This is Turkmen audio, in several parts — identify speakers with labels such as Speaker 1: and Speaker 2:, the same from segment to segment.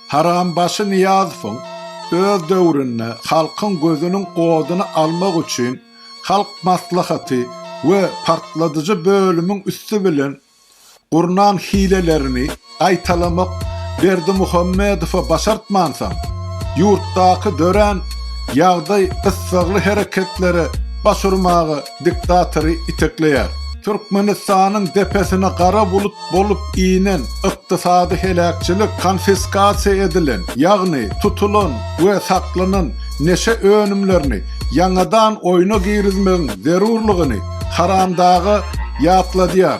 Speaker 1: Harambaşy Nyýazowyň öz döwründe halkyň gözüniň oduny almak üçin Halk Maslahaty we partladyjy bölümiň üsti bilen gurnan hilelerini gaýtalamak Berdimuhamedowa başartmansoň, ýurtdaky dörän ýagdaý gyssagly hereketlere baş urmaga diktatory itekleýär. Türkmenistanyň depesine gara bulut bolup inen ykdysady heläkçilik konfiskasiýa edilen, ýagny tutulan we saklanan neşe önümlerini ýaňadan oýna girizmegiň zerurlygyny Haramdaga ýatladýar.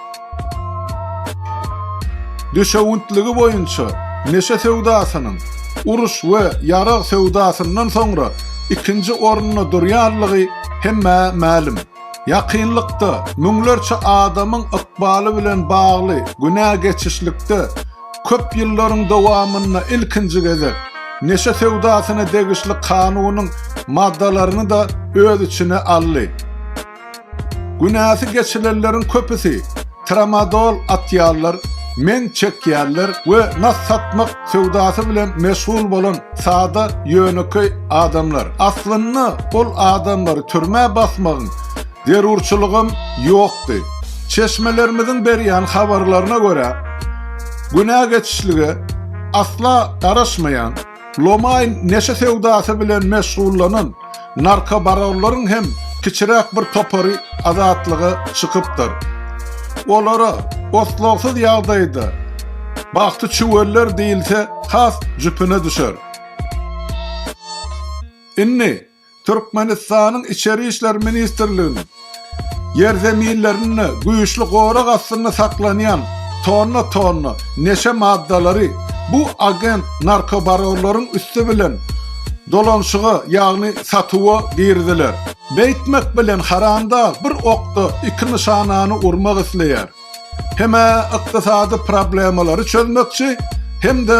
Speaker 1: Düşewüntligi boýunça neşe söwdasynyň uruş we ýarag söwdasyndan soňra ikinji orunda durýanlygy hemmä mälim. Ýakynlykda müňlerçe adamyň ykbaly bilen bagly günä geçişlikde köp ýyllaryň dowamynda ilkinji gezek neşe söwdasyna degişli kanunyň maddalaryny-da öz içine aldy. Günäsi geçilenleriň köpüsi tramadol atýarlar, men çekýärler we nas satmak söwdasy bilen meşgul bolan sada ýönekeý adamlar. Aslynda ol adamlary türmä basmagyň zerurçylygam ýokdy. Çeşmelerimiziň berýän habarlaryna görä, günä geçişlige asla garaşmaýan, Lomaýn neşe söwdasy bilen meşgullanan narkobaronlaryň hem kiçiräk bir topary azatlyga çykypdyr. Olara otlagsyz ýagdaýda Bagty çüweller diýilse has jüpüne düşer. Indi Türkmenistanyň Içeri işler ministrliginiň ýerzeminlerinde güýçli gorag astynda saklanýan tonna-tonna neşe maddalary bu agent narkobaronlaryň üsti bilen dolanyşyga, ýagny satuwa giriziler. Beýtmek bilen haramdag bir okda iki nyşanany urmak isleýär. Hem-ä ykdysady problemalary çözmekçi, hem-de